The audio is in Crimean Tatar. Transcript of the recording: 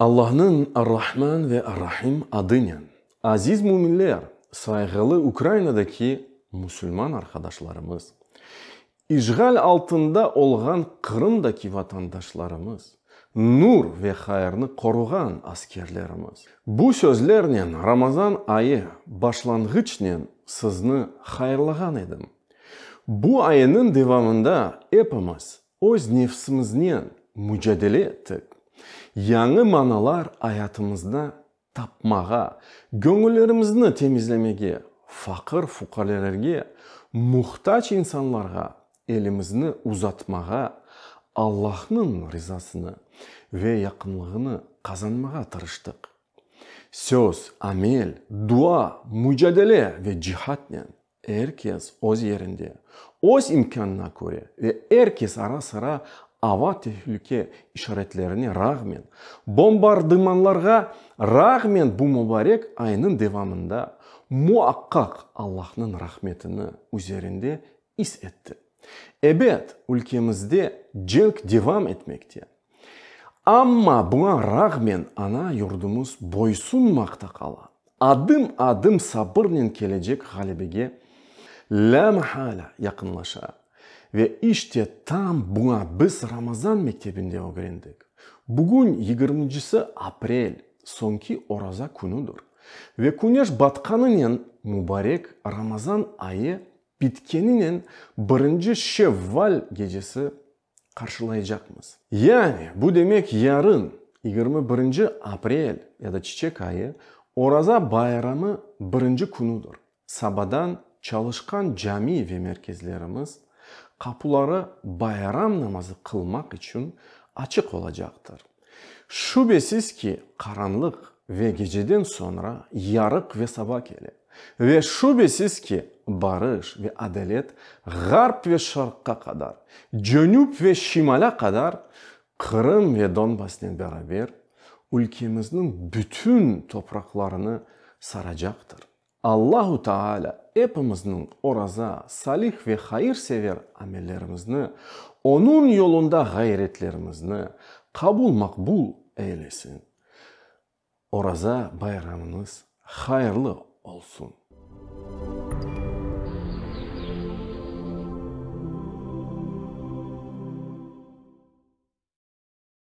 Allahnıñ Ar-Rahman ve Ar-Rahim adınen. Aziz müminler, sayğılı Ukrainadaki musulman arqadaşlarımız, işğal altında olğan Qırımdaki vatandaşlarımız, nur ve hayırnı qoruğan askerlerimiz! Bu sözlernen Ramazan ayı başlanğıçnen sizni hayırlağan edim. Bu ayınıñ devamında epimiz Öz nefsimiznen mücadele ettik, yañı manalar ayatımızda tapmağa, göñüllerimizni temizlemege, faqır-fuqarelerge, muhtac insanlarğa elimizni uzatmağa, Allahnıñ rizasını ve yaqınlığını qazanmağa tırıştıq. Söz, amel, dua, mücadele ve cihatnen. Er kes öz yerinde, öz imkânına köre ve er kes ara-sıra ava tehülüke işaretlerine rağmen, bombardımanlarğa rağmen bu mubarek aynıñ devamında muaqqaq Allahnıñ rahmetini üzerinde is etti. Ebet, ülkemizde cenk devam etmekte. Amma buña rağmen ana yurdumız boysunmaqta qala, adım-adım sabırnen kelecek ğalebege lâmahala yaqınlaşa. Ve işte tam buña biz Ramazan mektebinde ögrendik. Bugün yigirmincisi aprel, soñki oraza künüdir. Ve küneş batqanınen mubarek Ramazan ayı bitkeninen birinci Şevval gecesi qarşılaycaqmız. Yani, bu demek yarın, yigirmi birinci aprel ya da çiçek ayı, Oraza bayramı birinci künüdir. Sabadan çalışqan cami ve merkezlerimiz qapuları bayram namazı qılmaq içün açıq olacaqtır. Şübesiz ki, qaranlıq ve geceden soñra yarıq ve saba kele. Ve şübesiz ki, barış ve adalet Ğarp ve Şarqqa qadar, Cenüp ve Şimalâ qadar, Qırım ve Donbasnen beraber, ülkemizniñ bütün topraqlarını saracaqtır. Allahu Taala epimizniñ oraza, salih ve hayır-sever amellerimizni, Onıñ yolunda ğayretlerimizni qabul-maqbul eylesin. Oraza bayramınız hayırlı olsun!